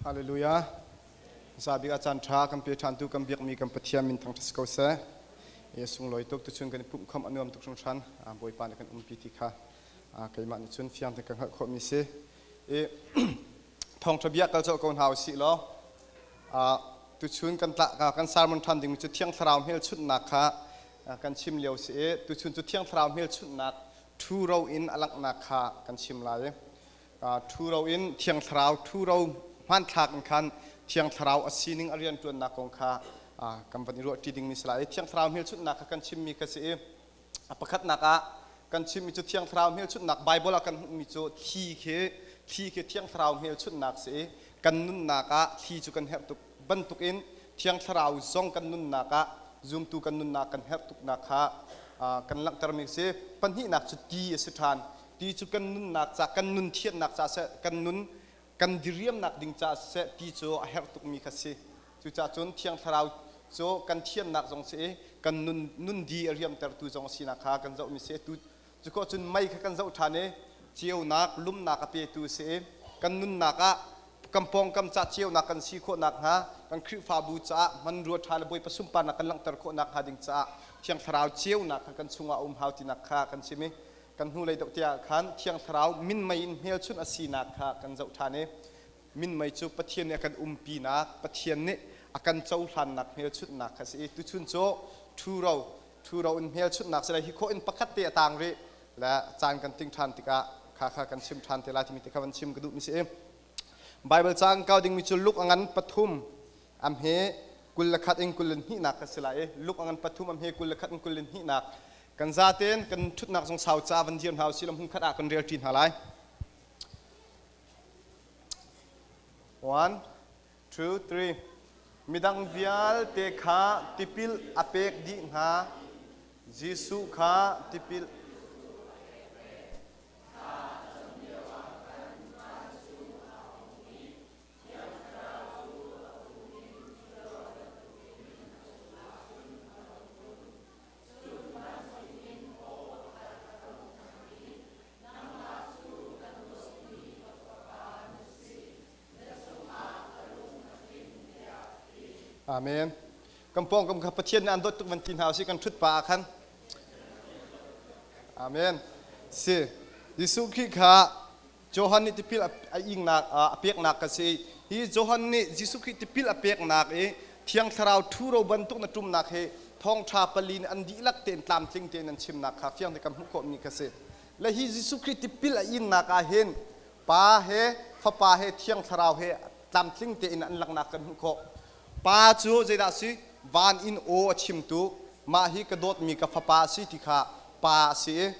Hallelujah. Zabik a caanṭha kan pe ṭhantu kan biakmi kan Pathian min thangṭhat ko seh. Yesu sunglawi tuk tuchun kan i pumhkham a nuam tuk hringhran. Bawipa nih kan umpi ti kha keimah nih cun fiang tein kan hngalh khawhmi si. I thawngṭha bia kal colh ko hna u sih law tuchun kan tlakka kan sermon ṭhan dingmi cu Thiang Thlarau hmelchunhnak kha kan chim lio si i tuchun cu Thiang Thlarau hmelchunhnak ṭhu ro in a langhnak kha kan chim lai i ṭhuro in thiang thlarau ṭhuro hmanthlak in khan thiang thlarau a sining a rianṭuannak kong kha kan van i ruahṭi dingmi si lai thiang thlarau hmelchunhnak kha kan chimmi ka si i a pakhatnak ah kan chimmi cu thiang thlarau hmelchunhnak Baibal ah kan hmuhmi cu thli khi thli khi thiang thlarau hmelchunhnak si i kan nunnak ah thli cu kan herh tuk bantukin thiang thlarau zong kan nunnak ah zumtu kan nunnak kan herh tuknak kha kan langhtermi si pahnihnak cu ti a si ṭhan ti cu kan nunnak ca kan nun thiannak ca seh kan nun kan diriamnak ding ca seh ti cu a herh tukmi kha si cucaah cun thiang thlarau cu kan thiannak zong si i kan nun nun di a riamtertu zong sinak kha kan zohmi si tu cukaw cun mei kha kan zoh ṭhan i ceunak lumnak a petu si i kan nunnak ah kan pawngkam ca ceunak kan si khawh nakhnga kan Khrihfabu caah hmanrua ṭha le bawipa sunparnak kan langhter khawh nakhnga ding caah thiang thlarau ceunak kha kan chungah a um hau tinak kha kan sim i kan hnulei deuh te ah khan thiang thlarau minmei in hmelchunh a sinak kha kan zoh ṭhan i minmei cu Pathian nih a kan umpinak Pathian nih a kan cohlannak hmelchunhnak kha a si i tuchun cu ṭhuro ṭhuro in hmelchunhnak si lai hi khawh in pakhat te a tang rih le caan kan ting ṭhan tikah kha kha kan chim ṭhan te lai timi ti kha van chim ka duh mi si i Baibal cang kau dingmi cu Luk a ngan pathum a hme kul le khat in kul in hnihnak kan si lai i luk a ngan pathum a hme kul le khat in kul in hnihnak kan za tein kan ṭhutnak zong sau ca van dir hna u silam hung khat ah kan relṭi hna lai one two three midang vialte kha tipil a pek dih hna Jesuh kha tipil Amen. Kan pawngkam kha Pathian nan dawt tuk van ti hna usih kan ṭhut pa ah khan. Amen. Si, Jesuh Khrih kha Johan nih tipil a ingnak a peknak ka si. Hi Johan nih Jesuh Khrih tipil a peknak i Thiang Thlarau ṭhuro bantuk na ṭumnak hi thawngṭha pali nih an dihlak tein tlamtling tein an chimnak kha fiang tein kan hmuh khawhmi ka si. Le hi Jesuh Khrih tipil a ingnak ah hin Pa he, Fapa he, Thiang Thlarau he tlamtling tein an langhnak kan hmuh khawh. Pa cu zeidah a si? Van in aw a chimtu, mah hi ka dawtmi ka Fapa a si ti kha Pa a si i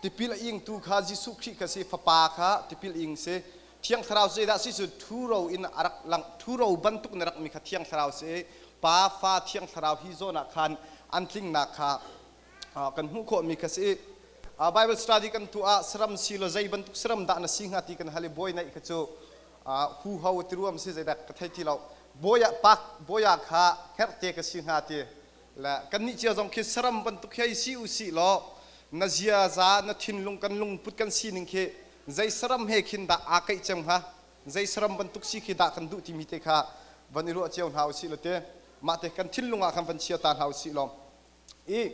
tipil a ingtu kha Jesuh Khrih kha a si, Fapa kha tipil ing a si. Thiang Thlarau zeidah a si cu ṭhuro in a rak langh, ṭhuro bantuk in a rakmi kha Thiang Thlarau a si i Pa, Fa, Thiang Thlarau hi zawn ah khan an tlingnak kha kan hmuh khawhmi kha a si. Baibal study kan tuah ah saram si law zei bantuk saram dah na si hnga ti kan hal i buai naih kha cu huho tiruam si zeidak ka thei ti lo boya pak boya kha herte ka si hnga ti le kannih cia zong khi saram bantuk hi si u si law na ziaza na thinlung kan lungput kan sining khi zei saram he khin dah aa kaih cang hnga zei saram bantuk si khi dah kan duh timi te kha van i ruah cio hna u si law te mah te kan thinlung ah khan van chia ta hna u si law i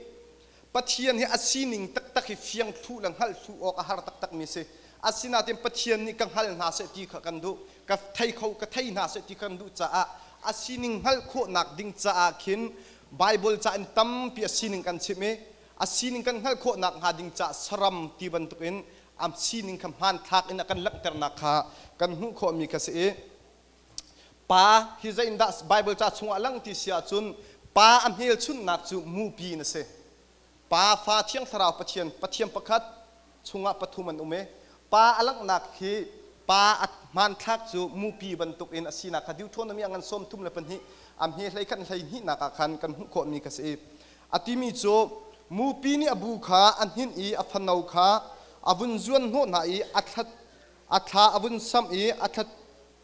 Pathian hi a sining taktak hi fiang thlu le hngalh thlu awk a har taktakmi a si. Asinain Pathian nih ka hngal hna seh ti kha kan duh, ka thei kho ka thei hna seh ti kan duh caah a sining hngalh khawhnak ding caah khin Baibal ca in tampi a sining kan chimh i a sining kan hngalh khawhnak hnga ding caah saram ti bantukin a sining kha hmanthlak in a kan langhternak kha kan hmuh khawhmi kha si i Pa hi zeindah Baibal ca chungah a lang ti si ahcun pa a hmelchunhnak cu mupi in a si. Pa, Fa, Thiang Thlarau Pathian, Pathian pakhat, chungah pathum an um i pa a langhnak hi pa a hmanthlak cu mupi bantukin a sinak kha Deuteronomy ah ngan sawm thum le pahnih a hme hlei khat le hlei hnihnak ah khan kan hmuh khawhmi ka si i a timi cu mupi nih a bu kha a hnin i a fano kha a vun zuan hnawh hna i a thlat a thla a vun samh i a thla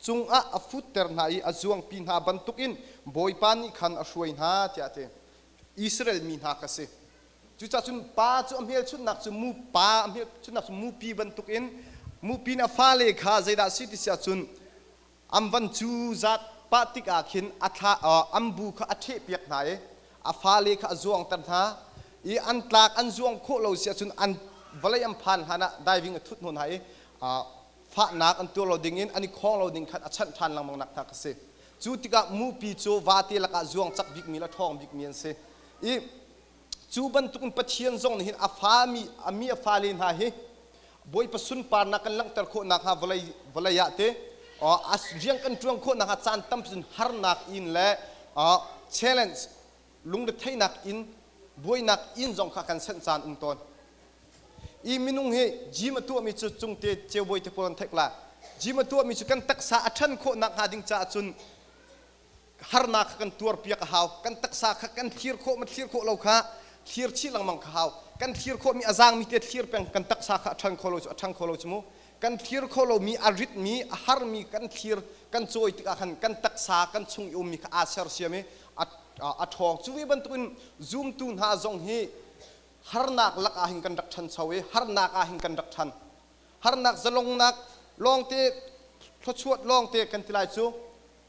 cungah a futter hna i a zuangpi hna bantukin Bawipa nih khan a hruai hna, tiah a ti. Israel mi hna kha a si. Cucaah cun pa cu a hmelchunhnak cu mu pa a hmelchunhnak cu mupi bantukin mupi nih a fale kha zeidah a si ti si ahcun An van cu zat pah tikah khin a thlah, an bu kha a ṭhehpiak hna i a fale kha a zuangter hna i an tlak an zuang khawh lo si ahcun an vawlei an phan hlanah diving a thut hnawn hna i fahnak an tuar lo ding in an i khawng lo ding khan a chanh ṭhan lengmang nak hna kha a si. Cu tikah mupi cu vate lakah zuang cak bikmi le ṭhawng bikmi an si i Cu bantukin Pathian zong nih hin a fami a mi a fale hna hi Bawipa sunparnak kan langhter khawh nakhnga vawlei vawlei ah te rian kan ṭuan khawh nakhnga caan tam cun harnak in le challenge lungretheihnak in buainak in zong kha kan senh caan um tawn. Hi minung hi gym a tuahmi cu cungte ceubawi te kawlon thek la. Gym a tuahmi cu kan taksa a ṭhan khawh nakhnga ding caah cun harnak kha kan tuarpiak a hau kan taksa kha kan thlir khawh ma thlir khawh lo kha thlir chih lengmang kha hau kan thlir khawh mi a zaangmi te thlir peng kan taksa kha a ṭhang kho lo cu a ṭhang kho lo cu mu kan thlir kho lo mi a ritmi a harmi kan thlir kan cawi tikah khan kan taksa kan chung i ummi kha aa sersiam i a a ṭhawng cu ve bantukin zumtu hna zong hi harnak lakah hin kan rak ṭhancho i harnak ah hin kan rak ṭhan harnak zalongnak lawngte thluachuat lawngte kan ti lai cu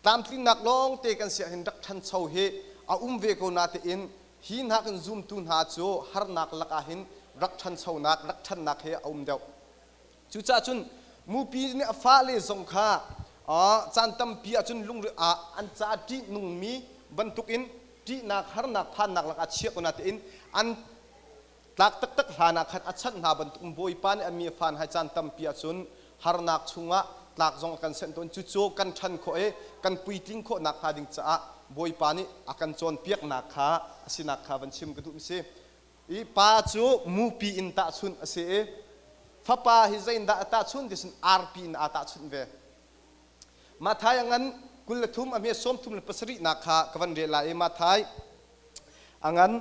tlamtlingnak lawngte kan si ahhin rak ṭhancho hi a um ve ko natein hi hna kan zumtu hna cu harnak lakah hin rak ṭhanchonak, rak ṭhannak hi a um deuh. Cucaah cun mupi nih a fale zong kha caan tampi ahcun lungre ah an ca ṭih nungmi bantukin ṭihnak, harnak, phannak lakah a chiah ko natein an Tlak taktak hlan ah khan a chanh hna bantukin Bawipa nih a mi a fan hai caan tampi ahcun harnak chungah tlak zong a kan senh tawn. Cucu kan ṭhan khawh i kan puitling khawh nakhnga ding caah Bawipa nih a kan cawnpiaknak kha a sinak kha van chim ka duhmi si. I pa cu mupi in tahchunh a si i fapa hi zeitindah a tahchunh ti sin arpi in aa tahchunh ve. Matthai a ngan kul le thum a hme sawm thum le pasarihnak kha ka van rel lai i Matthai angan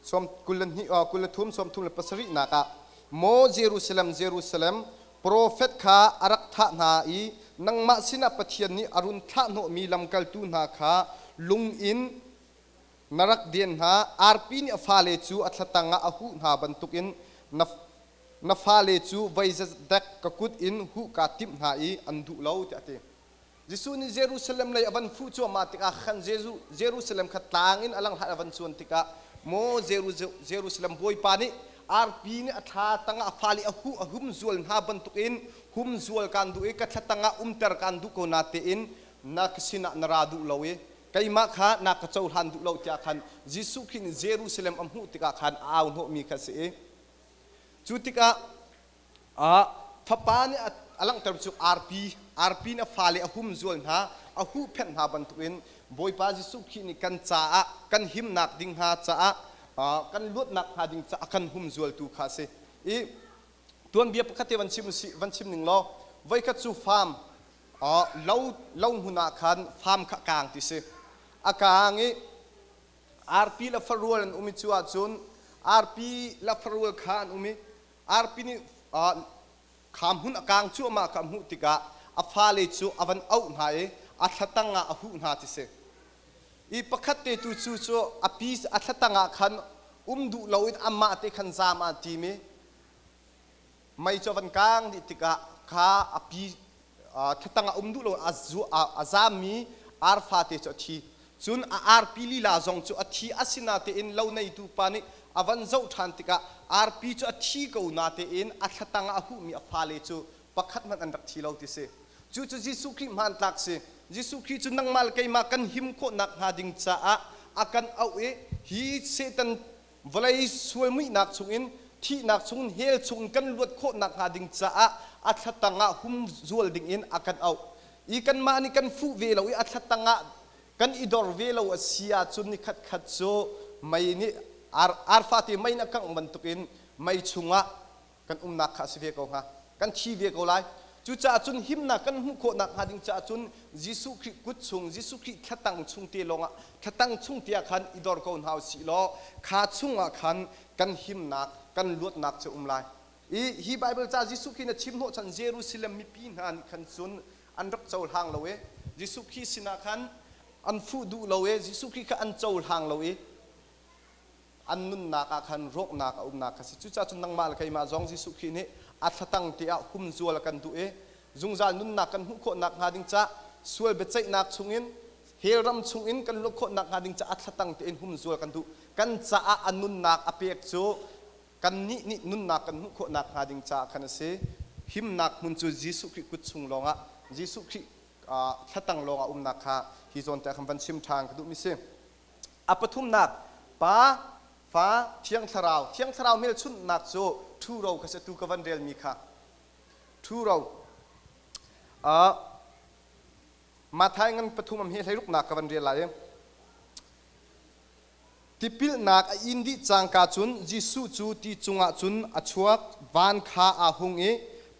som kul le hnih kul le thum som thum le pasarih nakah maw Jerusalem Jerusalem profet kha a rak thah hna i nangmah sinah Pathian nih a run thlah hnawhmi lamkaltu hna kha lung in na rak den hna arpi nih a fale cu a thlatang ah a huh hna bantukin na na fale cu vei zedek ka kut in huh kaa timh hna i an duh lo tiah a ti Jesuh nih Jerusalem lei a van fuh cuahmah tikah khan Jesuh Jerusalem kha tlang in a lang hlat a van cuan tikah maw Jerusalem Bawipa nih arpi nih a thla tangah a fal i a huh a humzual hna bantukin humzual kaan duh i ka thla tangah umter kaan duh ko na tein na ka sinah na ra duh lo i keimah kha na ka cohlan duh lo tiah khan Jesuh Khrih nih Jerusalem a hmuh tikah khan a au hnawhmi kha a si i cu tikah ah fapa nih a langhtermi cu arpi, arpi in a fale a humzual hna, a huhphenh hna bantukin Bawipa Jesuh Khrih nih kan caah kan himnak ding hna caah kan luatnak hnga ding caah kan humzualtu kha a si. I tuanbia pakhat te van chim usih, van chim ning law voikhat cu fam lo, lo hmun ah khan fam kha a kaang ti si. A kaang i arpi le farual an um i cu ahcun arpi le farual kha an um i arpi nih kha hmun a kaang cuahmah kha a hmuh tikah a fale cu a van auh hna i a thlatang ah a huh hna ti si. I pakhat te tu cu cu a pi a thlatang ah khan um duh lo in amah te khan zaam ah tim i mei cu a van kaang dih tikah kha a pi thatang a um duh lo a zaammi arfa te cu a thi cun a arpi lila zong cu a thi a si natein lo neitu pa nih a van zoh ṭhan tikah arpi cu a thi ko natein a thlatang ah a huhmi a fale cu pakhat hmanh an rak thi lo ti si cucu Jesuh Khrih hmantlak si Jesuh Khrih cu nangmah le keimah kan him khawh nakhnga ding caah a kan auh i hi Satan vawlei sual muihnak chungin thihnak chungin hell chungin kan luat khawh nakhnga ding caah a thlatang ah hum zual dingin a kan auh i kanmah nih kan fuh ve lo i a thlatang ah kan i dor ve lo a si ahcun ni khatkhat cu mei nih arfate mei in a kangh bantukin mei chungah kan umnak kha a si ve ko hnga, kan thi ve ko lai. Cucaah cun himnak kan hmuh khawh nakhnga ding caah cun Jesuh Khrih kut chung, Jesuh Khrih thlatang chung te lawngah, thlatang chung te ah khan i dor ko hna u sih law kha chungah khan kan himnak, kan luatnak cu a um lai. I hi Baibal ca Jesuh Khrih na chim hnawh chan Jerusalem mipi hna nih khan cun an rak cohlang lo i Jesuh Khrih sinah khan an fuh duh lo i Jesuh Khrih kha an cohlang lo i an nunnak ah khan rawhnak a umnak kha si. Cucaah cun nangmah le keimah zong Jesuh Khrih nih a thlatang tiah humzual a kan duh i zungzal nunnak kan hmuh khawh nakhnga ding ca, sual biaceihnak chungin, hell ram chungin kan luat khawh nakhnga ding caah a thlatang tein humzual kan duh. Kan caah a nunnak a pek cu kannih nih nunnak kan hmuh khawh nakhnga ding caah khan a si. Himnak hmun cu Jesuh Khrih kut chung lawngah Jesuh Khrih thlatang lawngah a umnak kha hi zawn te ah khan van chim ṭhan ka duhmi si. A pathumnak, Pa, Fa, Thiang Thlarau, Thiang Thlarau hmelchunhnak cu ṭhuro kha si, atu ka van relmi kha. Ṭhuro. Uh, Matthai ngan pathum am hi hleiruknak ka van rel lai i, tipilnak a in dih cangka cun Jesuh cu ti cungah cun a chuak, van kha aa hung i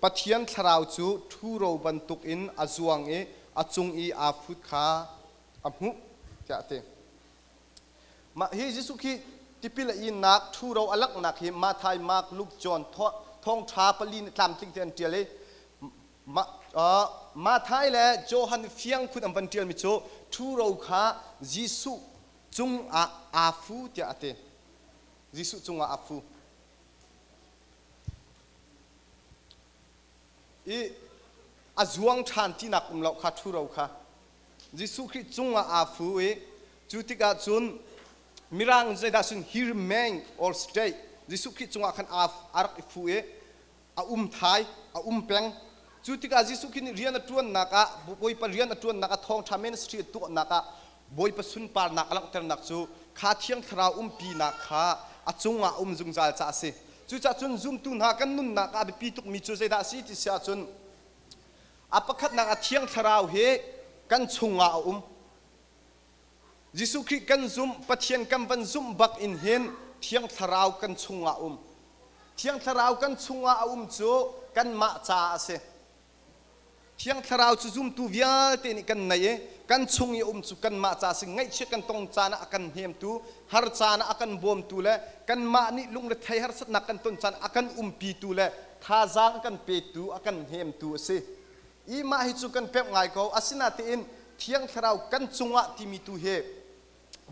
Pathian Thlarau cu ṭhuro bantukin a zuang i a cung i aa fut kha a hmuh tiah a ti. Mah hi Jesuh khi tipil a inak ṭhuro a langhnak hi Matthai, Mark, Luke, John, Thawngṭha pali nih tlamtling tein an ṭial i Matthai le Johan fiang khun an van ṭialmi cu ṭhuro kha Jesuh cungah aa fu tiah a ti. Jesuh cungah aa fu. I a zuang ṭhan tinak um lo kha ṭhuro kha Jesuh Khrih cungah aa fu i cu tikah cun Mirang zeidah cun here meng or stay Jesuh Khrih cungah khan aa a rak i fu i a um thai a um peng cu tikah Jesuh Khrih nih rian a ṭuannak ah Bawipa rian a ṭuannak ah thawngṭha ministry a tuahnak ah Bawipa sunparnak a langhternak cu kha thiang thlarau umpinak kha a cungah a um zungzal caah a si cucahcun zumtu hna kan nunnak ah a biapi tukmi cu zeidah a si ti si ahcun A pakhatnak a thiang thlarau hi kan chungah a um. Jesuh Khrih kan zumh, Pathian kan van zumh bak in hin thiang thlarau kan chungah a um. Thiang thlarau kan chungah a um cu kanmah caah a si. Thiang thlarau cu zumtu vialte nih kan nei i kan chung i um cu kanmah ca si ngaihchia kan tong caan ah a kan hnemtu har caan ah a kan bawmtu le kanmah nih lungrethei harsatnak kan ton caan ah a kan umpitu le thazaang kan petu, a kan hnemtu a si i mah hi cu kan pemh ngai ko. Asinatein Thiang Thlarau kan cungah timi tu hi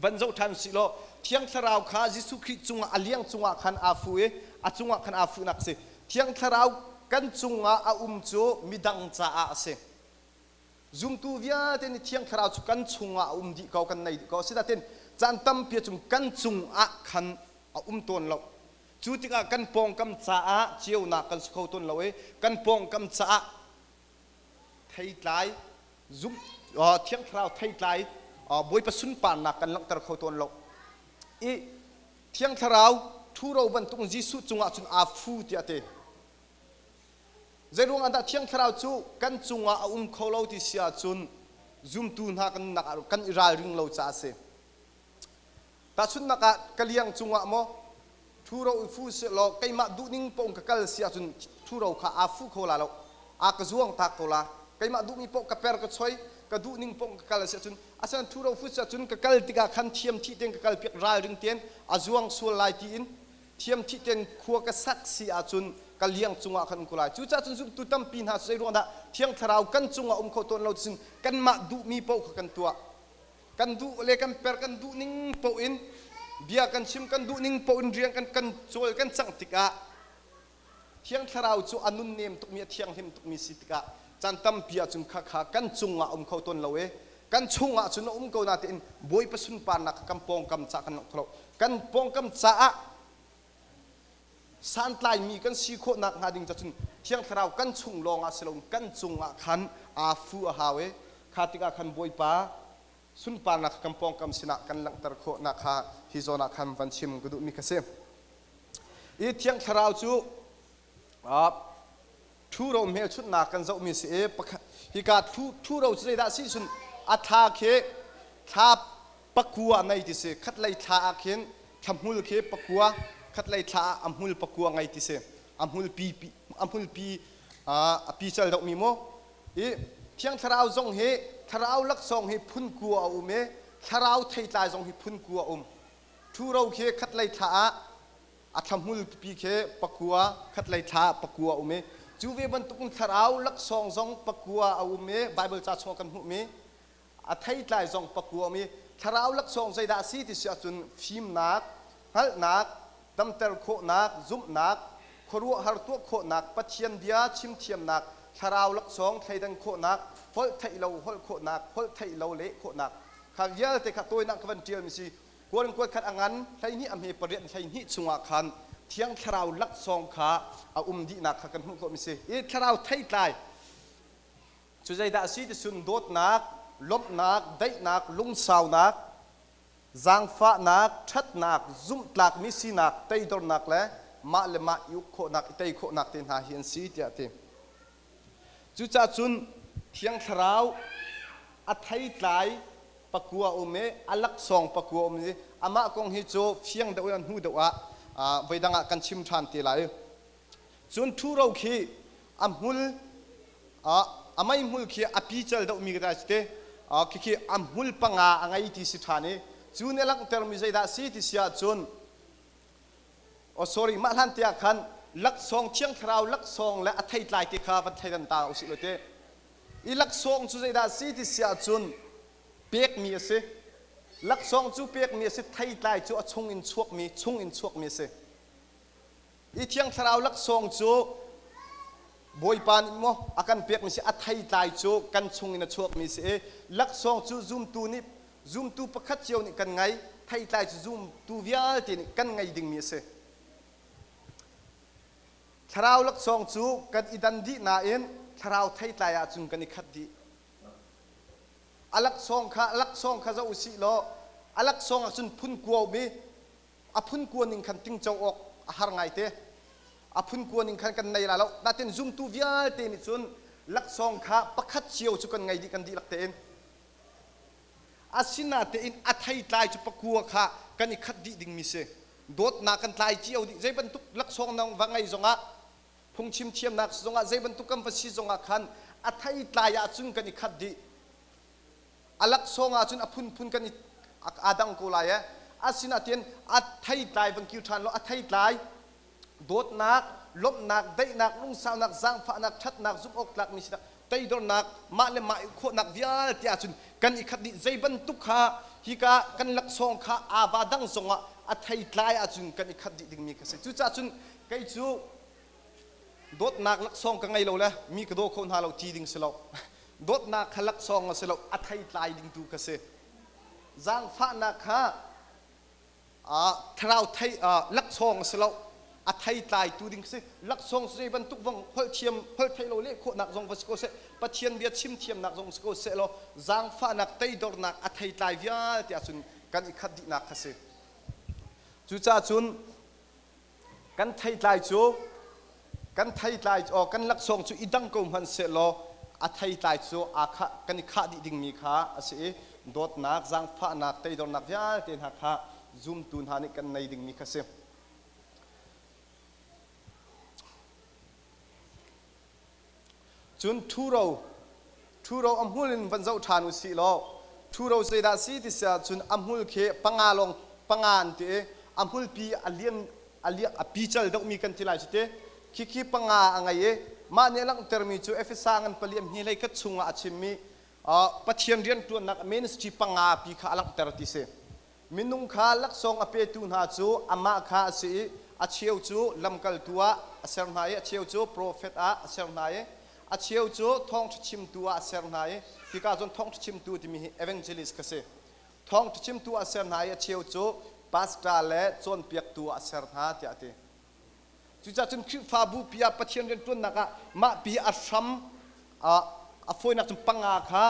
van zoh ṭhan usih law Thiang Thlarau kha Jesuh Khrih cungah a liang cungah khan aa fu i a cungah khan aa fuhnak a si. Thiang Thlarau kan cungah a um cu midang caah a si. Zumtu vialte nih Thiang Thlarau cu kan chungah a um dih ko, kan nei dih ko. Asinatein caan tampi ah cun kan cungah khan a um tawn lo. Cu tikah kan pawngkam caah ceunak kan si kho tawn lo i kan pawngkam caah theitlai zumh thiang thlarau theitlai Bawipa sunparnak kan langhter kho tawn lo i thiang thlarau ṭhuro bantuk Jesuh cungah cun aa fu tiah a ti zei ruangah dah thiang thlarau cu kan cungah a um kho lo ti si ahcun zumtu hna kan kan i ralring lo caah a si Tahchunhnak ah, ka liang cungah maw ṭhuro i fu sih law keimah duhning paoh in ka kal si ahcun ṭhuro kha aa fu kho la lo, aa ka zuangtak ko la. Keimah duhmi paoh ka per ka choi, ka duhning paoh in ka kal a si ahcun asinain ṭhuro fu si ahcun ka kal tikah khan thiamthih tein ka kalpiak ralring tein a zuang sual lai tiin thiamthih tein khua ka sak si ahcun ka liang cungah khan um ko lai. Cucaah cun zumtu tampi hna cu zei ruangah dah Thiang Thlarau kan cungah um kho tawn lo tiin kanmah duhmi paoh kha kan tuah. kan duh le kan per kan duh ning paoh in bia kan chim kan duh ning paoh in rian kan kan cawl kan cang tikah thiang thlarau cu a nun nem tukmi a thianghlim tukmi si tikah caan tampi ahcun khakha kan cungah a um kho tawn lo i kan chungah cun a um ko natein Bawipa sunparnak kan pawngkam ca kan langh kho lo kan pawngkam caah santlaimi kan si khawh nakhnga ding cacun thiang thlarau kan chung lawng ah si loin kan cungah khan afu a hau i kha tikah khan bawipa sunparnak kan pawngkam sinah kan langhter khawhnak kha hi zawn ah khan van chim ka duhmi ka si i thiang thlarau cu Ṭhuro hmelchunhnak kan zohmi a si i hika ṭhuro cu zeidah a si cun a thla khi thla pakua a ngei ti si. Khatlei thla ah khin thlahmul khi pakua, khatlei thla ah a hmul pakua ngei ti si. A hmulpi a pical deuhmi maw? I Thiang Thlarau zong hi thlarau laksawng hi phun kua a um i thlarau theitlai zong hi phun kua a um. Ṭhuro khi khatlei thla ah a thlahmul pipi khi pakua khatlei thla ah pakua a um i cu ve bantukin thlarau laksawng zong pakua a um i Baibal ca chungah kan hmuhmi a theitlai zong pakua a um i thlarau laksawng zeidah a si ti si ahcun fimnak hngalhnak damter khawhnak zumhnak khuaruahhar tuah khawhnak Pathian bia chim thiamnak thlarau laksawng thleidan khawhnak holh theih lo holh khawhnak holh theih lo leh khawhnak kha vialte kha tawinak ka van ṭialmi si Kuan kuat khat a ngan hleihnih a hme pariat hleihnih chungah khan thiang thlarau laksawng kha a um dihnak kha kan hmuh khawh mi si i thlarau theitlai cu zeidah a si ti sun dawtnak lawmhnak daihnak lungsaunak zaangfahnak ṭhatnak zumhtlakmi sinak teidornak le mah le mah i uk khawhnak i tei khawhnak te hna hi an si tiah a ti Cucah cun Thiang Thlarau a theitlai pakua a um i a laksawng pakua a um i amah kong hi cu fiang deuh in an hnu deuh ah voidang ah kan chim ṭhan te lai. Cun ṭhuro khi a hmul a meihmul khi a pical deuhmi ka si te khikhi a hmul panga a ngei ti si ṭhan i cu nih a langhtermi zeidah a si ti si ahcun Oh sorry, mah hlan te ah khan laksawng thiang thlarau laksawng le a theitlai te kha van thei dan ta usih law te i laksawng cu zeidah si ti si ahcun pekmi a si laksawng cu pekmi a si theitlai cu a chung in chuakmi chung in chuakmi a si i thiang thlarau laksawng cu bawipa nih maw a kan pekmi si a theitlai cu kan chung in a chuakmi si i laksawng cu zumtu nih zumtu pakhat cio nih kan ngei theitlai cu zumtu vialte nih kan ngei dingmi a si thlarau laksawng cu kan i dan dih nain thlarau theitlai ahcun kan i khat dih a laksawng kha laksawng kha zoh usih law a laksawng ahcun phun kuaumi a phun kua ning khan tingco awk a har ngaite a phun kua ning khan kan nei ra lo natin zumtu vialte nih cun laksawng kha pakhat cio cu kan ngei dih kan dihlak tein Asinatein a theitlai cu pakua kha kan i khat dih dingmi si. Dawtnak kan tlai cio dih. Zei bantuk laksawng nang va ngeih zongah, phungchim thiamnak zongah, zei bantuk kan va si zongah khan a theitlai ahcun kan i khat dih. A laksawng ahcun a phunphun kan i aa dang ko lai ee. Asinatein a theitlai van kir ṭhan law a theitlai dawtnak, lawmhnak, daihnak, lungsaunak, zaangfahnak, ṭhatnak, zumhawktlakmi sinak, toidornak, mah le mah i khawhnak vialte ahcun kan i khat dih. Zei bantuk kha hika kan laksawng kha ava dang zongah a theitlai ahcun kan i khat dih dingmi ka si. Cucaah cun kei cu dawtnak laksawng ka ngei lo le mi ka daw kho hna lo ti ding si lo. dawtnak kha laksawng a si lo, a theitlai ding tu ka si. Zaangfahnak kha thlarau thei laksawng a si lo a thei tlaitu ding si laksawng cu zei bantuk bang holh thiam holh thei lo lehkhawhnak zong va si ko seh pathian bia chim thiamnak zong si ko seh law zaangfahnak teidornak a thei tlai vialte ahcun kan i khat dihnak kha si cucaah cun kan theitlai cu kan theitlai aw kan laksawng cu i dang ko hmanh sehlaw a theitlai cu aa khah kan i khah dih dingmi kha a si i dawtnak zaangfahnak teidornak vialte hna kha zumtu hna nih kan nei dingmi kha si. Cun ṭhuro ṭhuro a hmul in van zoh ṭhan u sih law ṭhuro zeidah si ti si ahcun a hmul khi panga lawng panga an ti i a hmulpi a lian a lian a pical deuhmi kan ti lai cu ti. Khikhi panga a ngei i mah nih a langhtermi cu Efesa ngan pali a hni hlei khat chungah a chimmi uh, Pathian rianṭuannak ministry panga pi kha a langhter ti si. Minung kha laksawng a petu hna cu amah kha a si i a cheu cu lamkaltu ah a ser hna i a cheu cu profet ah a ser hna i a cheu cu thawngṭha chimtu ah a ser hna i hika cun thawngṭha chimtu timi hi evangelist ka si. Thawngṭha chimtu ah a ser hna i a cheu cu pastor le cawnpiaktu ah a ser hna tiah a ti. Cucah cun Khrihfabupi ah Pathian rianṭuannak ah mahpi a hram a fawinak cun panga kha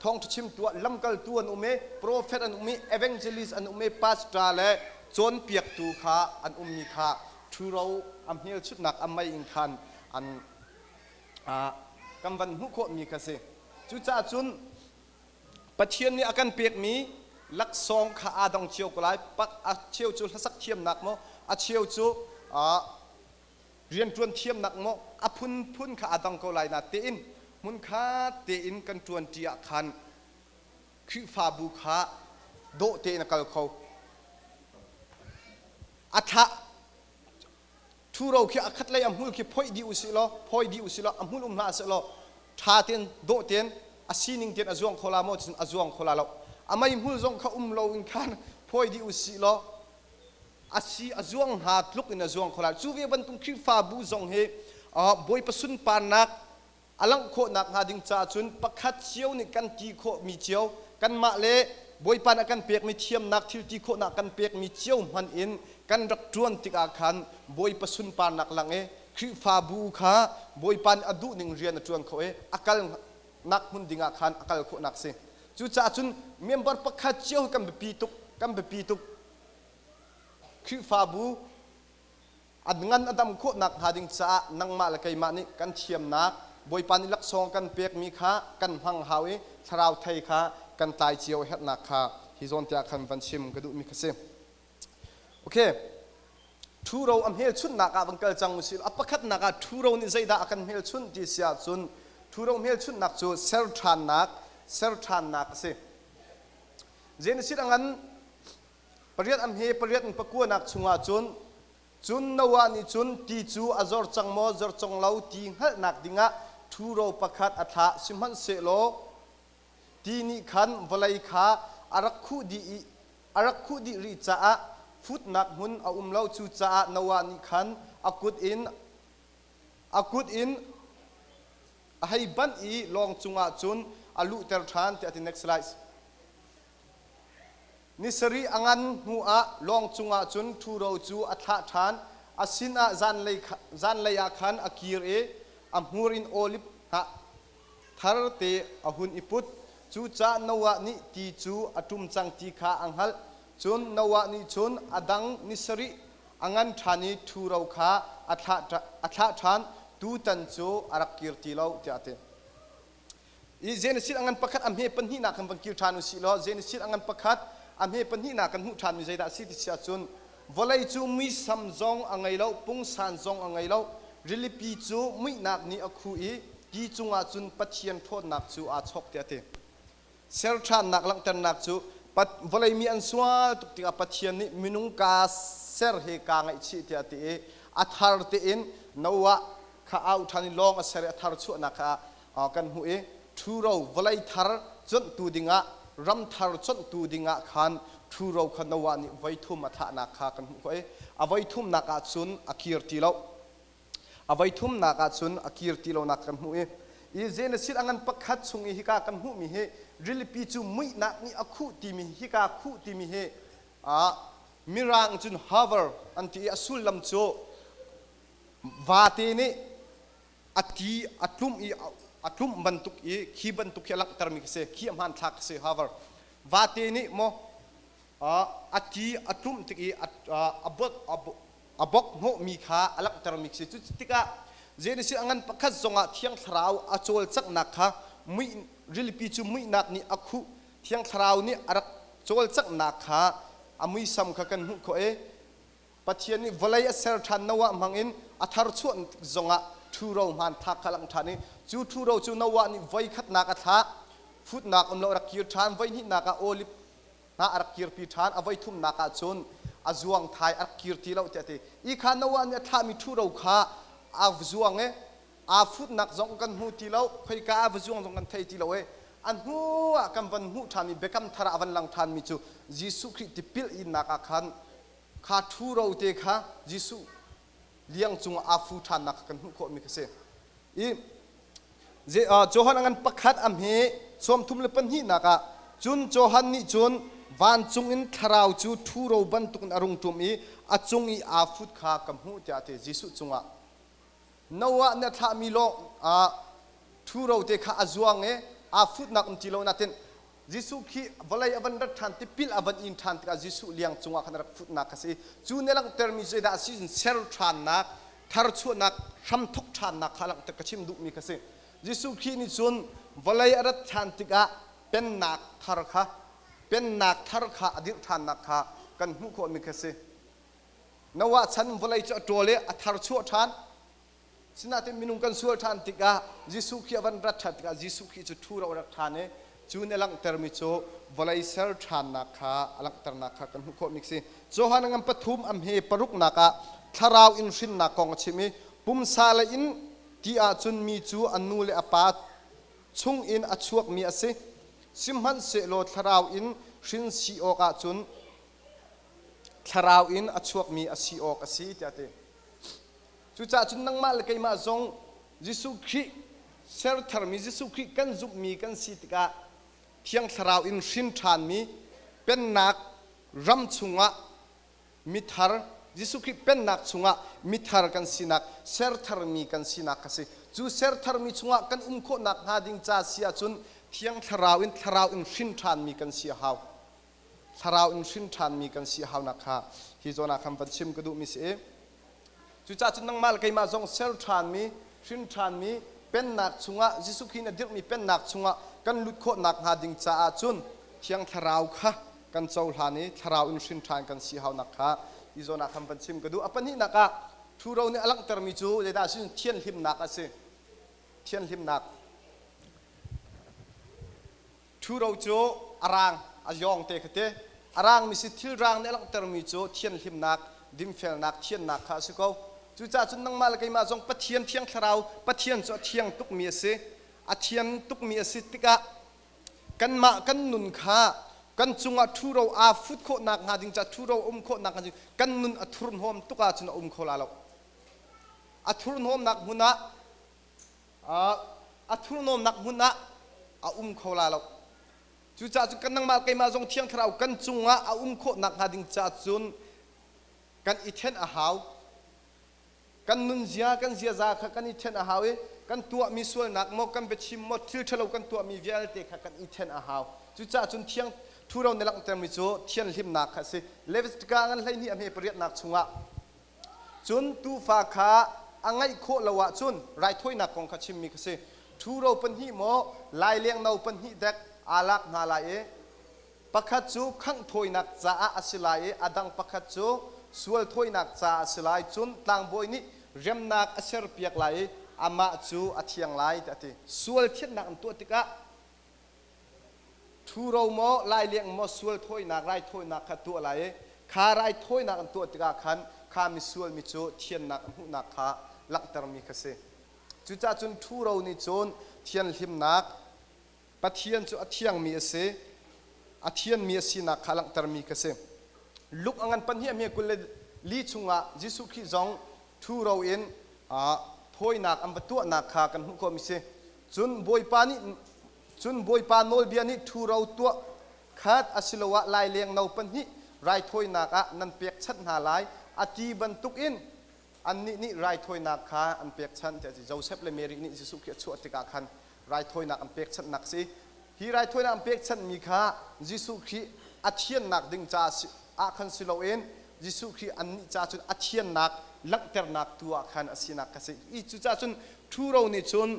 thawngṭha chim tu ah lamkaltu an um i profet an um i evangelist an um i pastor le cawnpiaktu kha an ummi kha ṭhuro a hmelchunhnak a mei in khan an kan van hmuh khawhmi kha a si. Cucah cun Pathian nih a kan pekmi laksawng kha aa dong cio ko lai. A cheu cu hlasak thiamnak maw, a cheu cu rianṭuan thiamnak maw a phunphun kha aa dong ko lai natein hmunkhat tein kan ṭuanṭi ah khan Khrihfabu kha dawh tein a kal kho. A thlah Ṭhuro khi a khatlei a hmul khi phoih dih u sih law, phawi dih u sih law, a hmul um hlah seh law, ṭha tein, dawh tein, a sining tein a zuang kho la maw, cun a zuang kho la lo. A meihmul zong kha um loin khan phawi dih u sih law, a si a zuang hna tluk in a zuang kho la. Cu ve bantuk Khrihfabu zong hi Bawipa sunparnak a langh khawh nakhnga ding caah cun pakhat cio nih kan ti khawhmi cio, kanmah le Bawipa nih a kan pekmi thiamnak thil ti khawhnak kan pekmi cio hmanh in kan rak ṭuan tikah khan Bawipa sunparnak lang i Khrihfabu kha Bawipa nih a duhning rian a ṭuan kho i a kalnak hmun dingah khan a kal khawhnak a si. Cucaah cun member pakhat cio hi kan biapi tuk, kan biapi tuk. Khrihfabu an ngan a dam khawh nakhnga ding caah nangmah le keimah nih kan thiamnak Bawipa nih laksawng kan pekmi kha kan hmang hau i thlarau thei kha kan tlai cio a herhnak kha hi zawn te ah khan van chim ka duhmi kha si. Okay. Ṭhuro a hmelchunhnak ah van kal cang usih. A pakhatnak ah ṭhuro nih zeidah a kan hmelchunh ti si ahcun ṭhuro hmelchunhnak cu ser ṭhannak, ser ṭhannak a si. Genesis a ngan Pariat an he pariat an pakuanak chungah cun, cun Noah nih cun ti cu a zor cang maw zor cang lo ti hngalhnak dingah ṭhuro pakhat a thlah, sihmanhsehlaw ti nih khan vawlei kha a rak khuh dih i a rak khuh dih rih caah futnak hmun a um lo. Cucaah Noah nih khan a kut in a kut in a hei banh i lawng cungah cun a luhter ṭhan, tiah a ti. Next slide. Ni sarih a ngan hnuah lawng cungah cun ṭhuro cu a thlah ṭhan, a sinah zanlei kha, zanlei ah khan a kir i a hmur in olip hnah thar te a hun i put. Cucaah Noah nih ti cu a ṭum cang ti kha a hngalh. Cun Noah nih cun a dang ni sarih a ngan ṭhan i ṭhuro kha a thlah, a thlah ṭhan, tutan cu a rak kir ti lo, tiah a ti. i Genesis a ngan pakhat a hme pahnihnak kan van kil ṭhan u sih law Genesis a ngan pakhat a hme pahnihnak kan hmuh ṭhanmi zeidah a si ti si ahcun vawlei cu muisam zong a ngei lo pungsan zong a ngei lo rilipi cu muihnak nih a khuh i ki cungah cun Pathian ṭhawnnak cu aa chawk tiah a ti serṭhannak langhternak cu vawlei mi an sual tuk tikah Pathian nih minung kaa ser he kaa ngaihchih tiah a ti i a thar tein Noah kha au ṭhan i lawng a ser i a thar chuahnak kha kan hmuh i ṭhuro vawlei thar cuanhtu dingah, ram thar cuanhtu dingah khan ṭhuro kha Noah nih voi thum a thahnak kha kan hmuh khawh i a voi thumnak ah cun a kir ti lo. A voi thumnak ah cun a kir ti lonak kan hmuh i i Genesis a ngan pakhat chung i hika kan hmuhmi hi rilipi cu muihnak nih a khuh timi hika khuh timi hi a mirang cun hover an ti i a sullam cu vate nih a ti a tlum i a tlumh bantuk i khi bantuk hi a langhtermi khi si khi a hmanthlak khi si however vate nih maw a ti a tlumh tik i a bok hnawhmi kha a langhtermi khi si cu tikah Genesis a ngan pakhat zongah thiang thlarau a cawlcanghnak kha muih rilipi cu muihnak nih a khuh thiang thlarau nih a rak cawlcanghnak kha a muisam kha kan hmuh khawh i Pathian nih vawlei a ser ṭhan Noah hmangin a tharchuah zongah ṭhuro hmaan thak kha a langh ṭhan i cu ṭhuro cu Noah nih voi khatnak a thlah, futnak um lo a rak kir ṭhan, voi hnihnak ah olip hna a rak kirpi ṭhan, a voi thumnak ah cun a zuangthai a rak kir ti lo tiah a ti. Hi kha Noah nih a thlahmi ṭhuro kha aa zuang i aa futnak zong kan hmu ti lo, khoika ah va zuang zong kan thei ti lo i a hnuah kan van hmuh ṭhan i Biakam Thar ah a van lang ṭhanmi cu Jesuh Khrih tipil innak ah khan kha ṭhuro te kha Jesuh liang cungah aa fu ṭhannak kha kan hmuh khawhmi kha si. I Johan a ngan pakhat a hme sawmthum le pahnihnak ah, cun Johan nih cun vancung in thlarau cu ṭhuro bantukin a rung ṭum i a cung i aa fut kha ka hmuh tiah a ti. Jesuh cungah Noah na thlahmi lawngah ṭhuro te kha a zuang i aa futnak um ti lo nain Jesuh khi vawlei a van rat ṭhan, tipil a van in ṭhan tikah Jesuh liang cungah khan a rak futnak kha a si. Cu nih a langhtermi zeidah a si cun ser ṭhannak, tharchuahnak, hramthawk ṭhannak kha a langhter. Ka chim duhmi kha a si. Jesuh Khrih nih cun vawlei a rat ṭhan tikah Pennak thar kha Pennak thar kha a dirh ṭhannak kha kan hmuh khawhmi kha a si. Noah chan vawlei cu a ṭawl i a thar chuah ṭhan. Sinain minung kan sual ṭhan tikah Jesuh Khrih a van rat ṭhan tikah Jesuh Khrih cu ṭhu ro a rak ṭhan i cu nih a langhtermi cu vawlei ser ṭhannak kha a langhternak kha kan hmuh khawh mi a si. Johan ngam pathum am hi paruknak ah thlarau in hrinnak kong a chim i pumsa lei in ti ahcun mi cu a nu le a pa chung in a chuakmi a si. Sihmanhsehlaw thlarau in hrin si awk ahcun thlarau in a chuakmi a si awk a si tiah a ti. Cucaah cun nangmah le keimah zong Jesuh Khrih sertharmi Jesuh Khrih kan zumhmi kan si tikah thiang thlarau in hrin ṭhanmi pennak ram chungah mithar Jesuh Khrih pennak chungah mithar kan sinak sertharmi kan sinak kha si. Cu sertharmi chungah kan um khawh nakhnga ding ca si ahcun thiang thlarau in thlarau in hrin ṭhanmi kan si a hau. thlarau in hrin ṭhanmi kan si a hau nakhnga hi zawn ah khan van chim ka duhmi si i cucaah cun nangmah le keimah zong ser ṭhanmi hrin ṭhanmi pennak chungah Jesuh Khrih in a dirhmi pennak chungah kan lut khawh nakhnga ding caah cun thiang thlarau kha kan cohlan i thlarau in hrin ṭhan kan si hau nakhnga hi zawn ah khan van chim ka duh a pahnihnak ah ṭhuro nih a langhtermi cu zeidah a si thianhlimnak a si thianhlimnak Ṭhuro cu a raang, a yawngte kha ti. A raangmi si thil raang nih a langhtermi cu thianhlimnak, dinfelnak, thiannak kha a si ko. Cucaah cun nangmah le keimah zong Pathian thiang thlarau, Pathian cu a thiang tukmi a si. A thian tukmi a si tikah kanmah kan nun kha kan cungah ṭhuro aa fut khawh nakhnga ding caah ṭhuro a um khawh nakhnga ding kan nun a thurhnawm tuk ahcun a um kho la lo. A thurhnawmnak hmun ah a thurhnawmnak hmun ah a um kho la lo. Cucaah cu kan nangmah keimah zong Thiang Thlarau kan cungah a um khawh nakhnga ding caah cun kan i then a hau. Kan nunzia, kan ziaza kha kan i then a hau i kan tuahmi sualnak maw, kan biachim maw, thil ṭhalo kan tuahmi vialte kha kan i then a hau. Cucaah cun thiang thuro na langhtermi cu thianhlimnak kha a si. Leviticus ngan hleihnih a hme pariatnak chungah Cun tuufa kha a ngaih khawh lo ahcun raithawinak kong kha chimmi kha si, ṭhuro pahnih maw lailengno pahnih dek aa lak hna lai i pakhat cu khangh thawinak caah a si lai i a dang pakhat cu sual thawinak caah a si lai, cun tlangbawi nih remnak a serpiak lai i amah cu a thiang lai, tiah a ti. Sual thiannak an tuah tikah Ṭhuro maw, laileng maw sual thawinak raithawinak kha tuah lai i kha raithawinak an tuah tikah khan kha misual mi cu thiannak a hmuhnak kha langhtermi kha si. Cucaah cun ṭhuro nih cun thianhlimnak Pathian cu a thiangmi a si, a thianmi a sinak kha langhtermi kha si. Luke a ngan pahnih a hme kul le li chungah Jesuh Khrih zong ṭhuro in thawinak an va tuahnak kha kan hmuh khawhmi a si. Cun Bawipa nih cun Bawipa nawlbia nih ṭhuro tuah khat asiloah laileng no pahnih raithawinak ah nan pekchanh hna lai, a ti bantukin annih nih raithawinak kha an pekchanh, tiah a ti. Josef le Mary nih Jesuh khi a chuah tikah khan raithawinak an pekchanhnak a si. Hi raithawinak an pekchanhmi kha Jesuh Khrih a thiannak ding ca ah khan si loin Jesuh Khrih annih caah cun a thiannak langhternak tu ah khan a sinak kha si i cucaah cun ṭhuro nih cun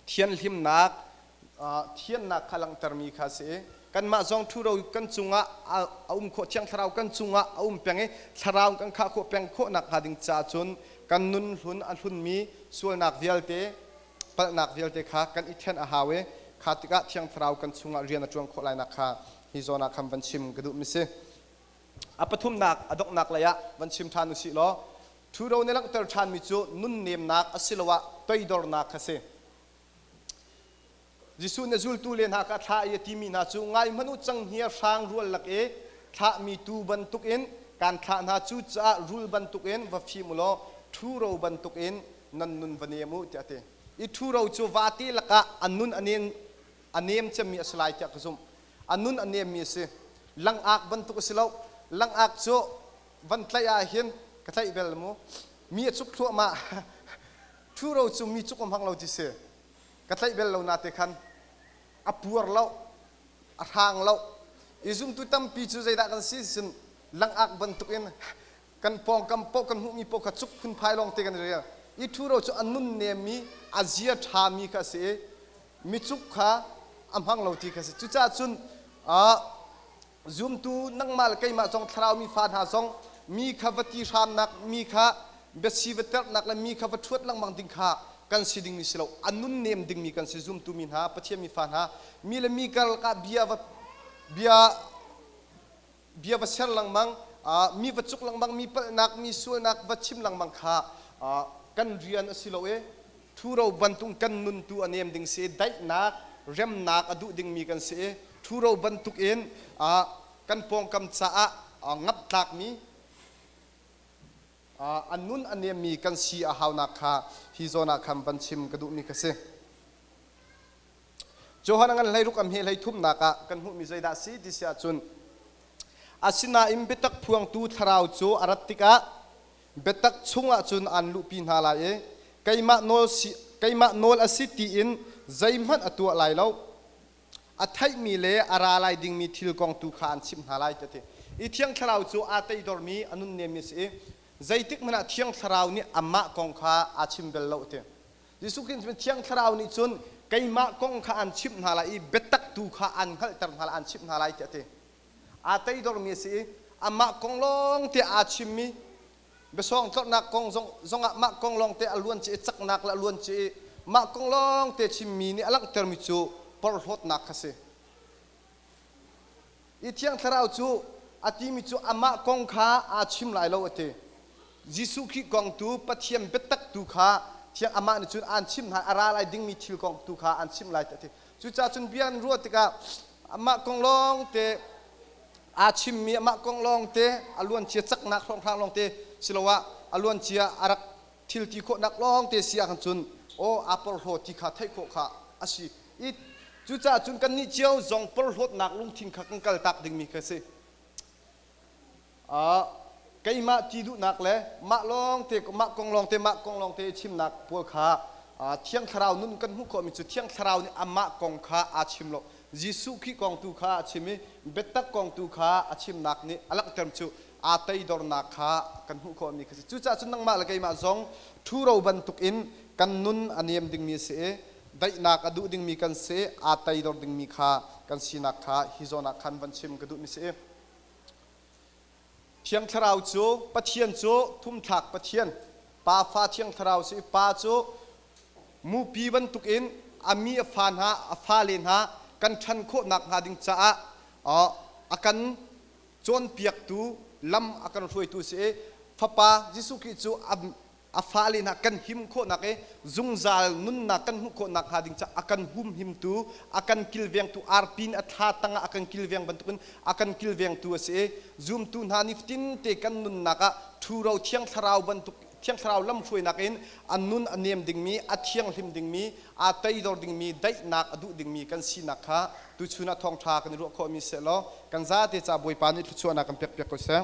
thianhlimnak thiannak kha langhtermi kha a si i kanmah zong ṭhuro kan cungah a um khawh thiang thlarau kan cungah a um peng i thlarau kan khah khawh peng khawh nakhnga ding caah cun kan nun hlun a hlunmi sualnak vialte palhnak vialte kha kan i ṭhen a hau i kha tikah thiang thlarau kan chungah rian a ṭuan khawh lainak kha hi zawn ah khan van chim ka duhmi si. A pathumnak a donghnak lei ah van chim ṭhan u sih law ṭhuro nih langhter ṭhanmi cu nunnemnak asiloah toidornak kha si. Jesuh nih zultu le hna kha a thlah i a timi hna cu ngaihmanh u cang hnia hrang rual lak i thlahmi tuu bantukin kaan thlah hna cu caah rul bantukin va fim u law ṭhuro bantukin nan nun va nem u tiah a ti. I ṭhuro cu vate lakah a nun a nem a nem cemmi a si lai tiah ka zumh. A nun a nemmi a si. Langak bantuk a si lo. Langak cu van tlaih ahhin ka tlaih bel mu. Mi a cuk thluahmah. Ṭhuro cu mi cuk a hmang lo ti si. Ka tlaih bel lo nate khan. A puar lo. A hrang lo. I zumtu tampi cu zeidah kan si? Cun langak bantukin kan pawngkam paoh kan hmuhmi paoh kha cuk phunphai lawng te kan i rial i ṭhuro cu a nun nemmi a zia ṭhami kha a si i micuk kha a hmang lo ti kha a si cucaah cun zumtu nangmah le keimah zong thlaraumi fa hna zong mi kha va ti hramnak mi kha biasi va terhnak le mi kha va ṭhuat lengmang ding kha kan si ding ni si lo a nun nem dingmi kan si zumtu mi hna pathian mi fa hna mi le mi karlak ah bia va bia bia va ser lengmang, mi va cuk lengmang, mi palhnak, mi sualnak va chim lengmang kha kan rian a si lo i ṭhuro bantuk kan nun tu a nem ding si i daihnak, remnak a duh dingmi kan si i ṭhuro bantuk in kan pawngkam caah ngap tlakmi, a nun a nemmi kan si a haunak kha hi zawn ah khan van chim ka duhmi ka si. Johan an hleiruk am he hleithumnak ah kan hmuhmi zeidah a si ti si ahcun asinain biatak phuangtu thlarau cu a rat tikah biatak chungah cun aan luhpi hna lai i keimah nawl si keimah nawl a si tiin zeihmanh a tuah lai lo a theihmi le a ra lai dingmi thil kong tu kha aan chimh hna lai ti a ti i thiang thlarau cu aa teidormi a nunnemmi a si i zeitik hmanh ah thiang thlarau nih amah kong kha aa chim bel lo a ti Jesuh Khrih cu Thiang Thlarau nih cun keimah kong kha aan chimh hna lai i biatak tu kha aan hngalhter hna lai, aan chimh hna lai tiah a ti. Aa teidormi a si i amah kong lawng tiah aa chimmi biasawng tlorhnak kong zongah mah kong lawngte a luancia i caknak le a luancia i mah kong lawngte chimmi nih a langhtermi cu porhlawtnak kha a si. I thiang thlarau cu a timi cu amah kong kha aa chim lai lo a ti. Jesuh Khrih kong tu Pathian biatak tu kha thiang amah nih cun aan chimh hna, a ra lai dingmi thil kong tu kha aan chimh lai ti a ti. Cucaah cun bia an ruah tikah amah kong lawngte aa chimmi amah kong lawngte a luancia caknak hlawnghrang lawngte siloah a luancia a rak thil ti khawhnak lawngte si ahkhan cun aw aa porhlaw ti kha theih khawh kha a si. i cucaah cun kannih cio zong porhlawtnak lungthin kha kan kaltak dingmi ka si. Uh, keimah ti duhnak le mah lawngte mah kong lawngte mah kong lawngte i chimnak pawl kha uh, thiang thlarau nun kan hmuh khawhmi cu thiang thlarau nih amah kong kha aa chim lo Jesuh Khrih kong tu kha a chim i biatak kong tu kha a chimnak nih a langhter cu aa toidornak kha kan hmuh khawhmi kha a si. Cucaah cun nangmah le keimah zong ṭhuro bantukin kan nun a niam dingmi a si i daihnak a duh dingmi kan si, aa toidor dingmi kha kan sinak kha hi zawn ah khan van chim ka duhmi a si i Thiang Thlarau cu Pathian cu thumthlak Pathian, Pa Fa Thiang Thlarau si i Pa cu mupi bantukin a mi a fa hna a fale hna kan ṭhan khawh nakhnga ding caah a kan cawnpiaktu lam a kan hruaitu a si i fapa Jesuh Khrih cu a fale hna kan him khawhnak i zungzal nunnak kan hmuh khawh nakhnga ding caah a kan humhimtu a kan kilvengtu arpin a thla tangah a kan kilveng bantukin a kan kilvengtu a si i zumtu hna nifatin te kan nunnak ah ṭhuro thiang thlarau bantuk Thiang thlarau lamhruainak in a nun a nem dingmi, a thianghlim dingmi, aa teidor dingmi, daihnak a duh dingmi kan sinak kha tuchun ah thawngṭha kan i ruah khawhmi sehlaw kan zate ca Bawipa nih thluachuahnak kan pekpiak ko seh.